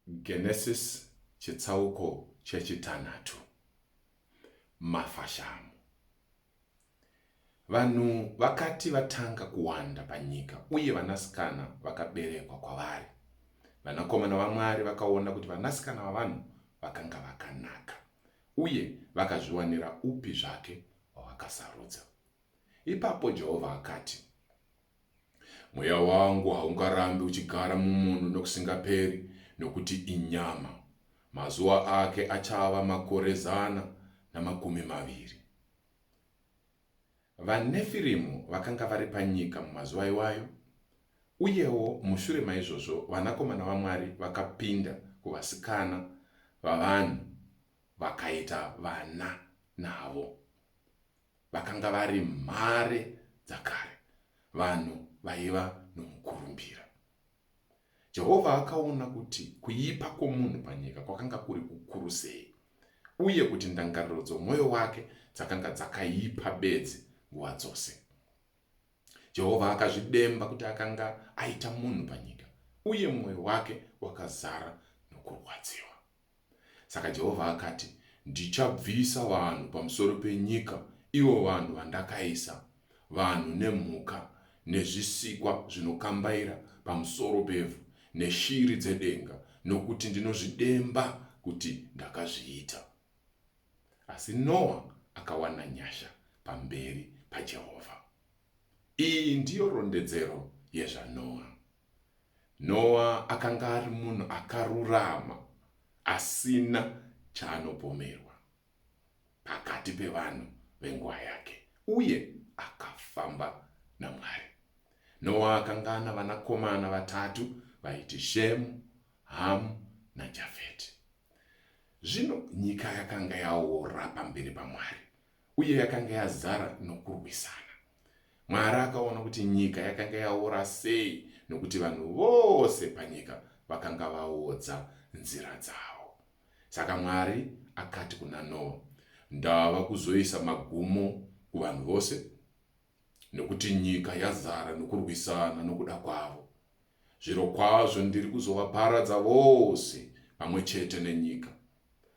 Genesis chitsauko chechitanhatu. Mafashamu. Vanhu vakati vatanga kuwanda panyika uye vanasikana vakaberekwa kwavari, vanakomana vaMwari vakaona kuti vanasikana vavanhu vakanga vakanaka uye vakazviwanira upi zvake wavakasarudza. Ipapo Jehovha akati, Mweya wangu haungarambi uchigara mumunhu nokusingaperi, nokuti inyama. Mazuva ake achava makore zana namakumi maviri. VaNefirimu vakanga vari panyika mumazuva iwayo, uyewo mushure maizvozvo vanakomana vaMwari vakapinda kuvasikana vavanhu vakaita vana navo. vakanga vari mhare dzakare, vanhu vaiva nomukurumbira. Jehovha akaona kuti kuipa kwomunhu panyika kwakanga kuri kukuru sei uye kuti ndangariro dzomwoyo wake dzakanga dzakaipa bedzi nguva dzose. Jehovha akazvidemba kuti akanga aita munhu panyika, uye mwoyo wake wakazara nokurwadziwa. Saka Jehovha akati, Ndichabvisa vanhu pamusoro penyika, ivo vanhu vandakaisa, vanhu nemhuka nezvisikwa zvinokambaira pamusoro pevhu neshiri dzedenga, nokuti ndinozvidemba kuti ndakazviita. Asi Noa akawana nyasha pamberi paJehovha. Iyi ndiyo rondedzero yezvaNoa. Noa akanga ari munhu akarurama, asina chaanopomerwa pakati pevanhu venguva yake, uye akafamba naMwari. Noa akanga ana vanakomana vatatu vaiti Shemu, Hamu naJafeti. Zvino nyika yakanga yaora pamberi paMwari, uye yakanga yazara nokurwisana. Mwari akaona kuti nyika yakanga yaora sei, nokuti vanhu vose panyika vakanga vaodza nzira dzavo. Saka Mwari akati kuna Noa, Ndava kuzoisa magumo kuvanhu vose, nokuti nyika yazara nokurwisana nokuda kwavo. Zvirokwazvo ndiri kuzovaparadza vose pamwe chete nenyika.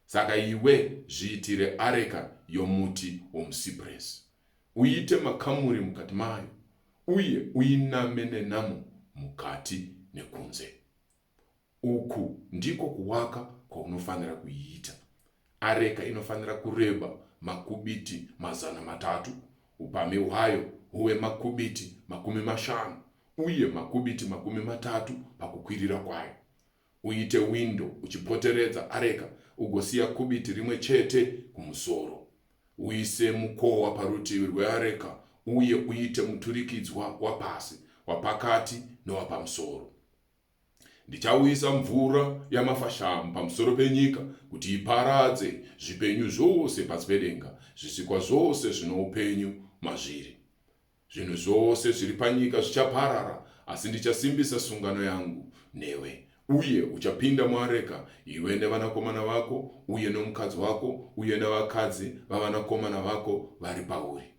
Saka iwe zviitire areka yomuti womusipuresi, uite makamuri mukati mayo, uye uiname nenamo mukati nekunze. Uku ndiko kuwaka kwaunofanira kuiita. Areka inofanira kureba makubiti mazana matatu, upamhi hwayo huve makubiti makumi mashanu uye makubiti makumi matatu pakukwirira kwayo. Uite windo uchipoteredza areka ugosiya kubiti rimwe chete kumusoro. Uise mukowa parutivi rweareka uye uite muturikidzwa wapasi, wapakati newapamusoro. Ndichauyisa mvura yamafashamu pamusoro penyika kuti iparadze zvipenyu zvose pasi pedenga, zvisikwa zvose zvino upenyu mazviri. Zvinhu zvose zviri panyika zvichaparara, asi ndichasimbisa sungano yangu newe. Uye uchapinda muareka, iwe nevanakomana vako uye nomukadzi wako uye nevakadzi vavanakomana vako vari pauri.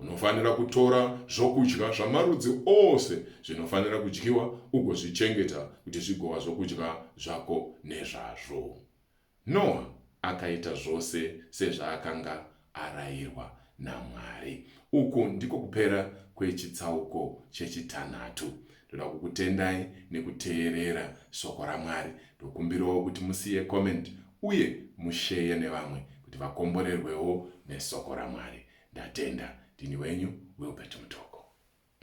Unofanira kutora zvokudya zvamarudzi ose zvinofanira kudyiwa ugozvichengeta kuti zvigova zvokudya zvako nezvazvo. Noa akaita zvose sezvaakanga arayirwa naMwari. Uku ndiko kupera kwechitsauko chechitanhatu. Ndoda kukutendai nekuteerera shoko raMwari. Ndokumbirawo kuti musiye comment uye musheye nevamwe kuti vakomborerwewo nesoko raMwari. Ndatenda. Ndini wenyu Wilbert Mutoko.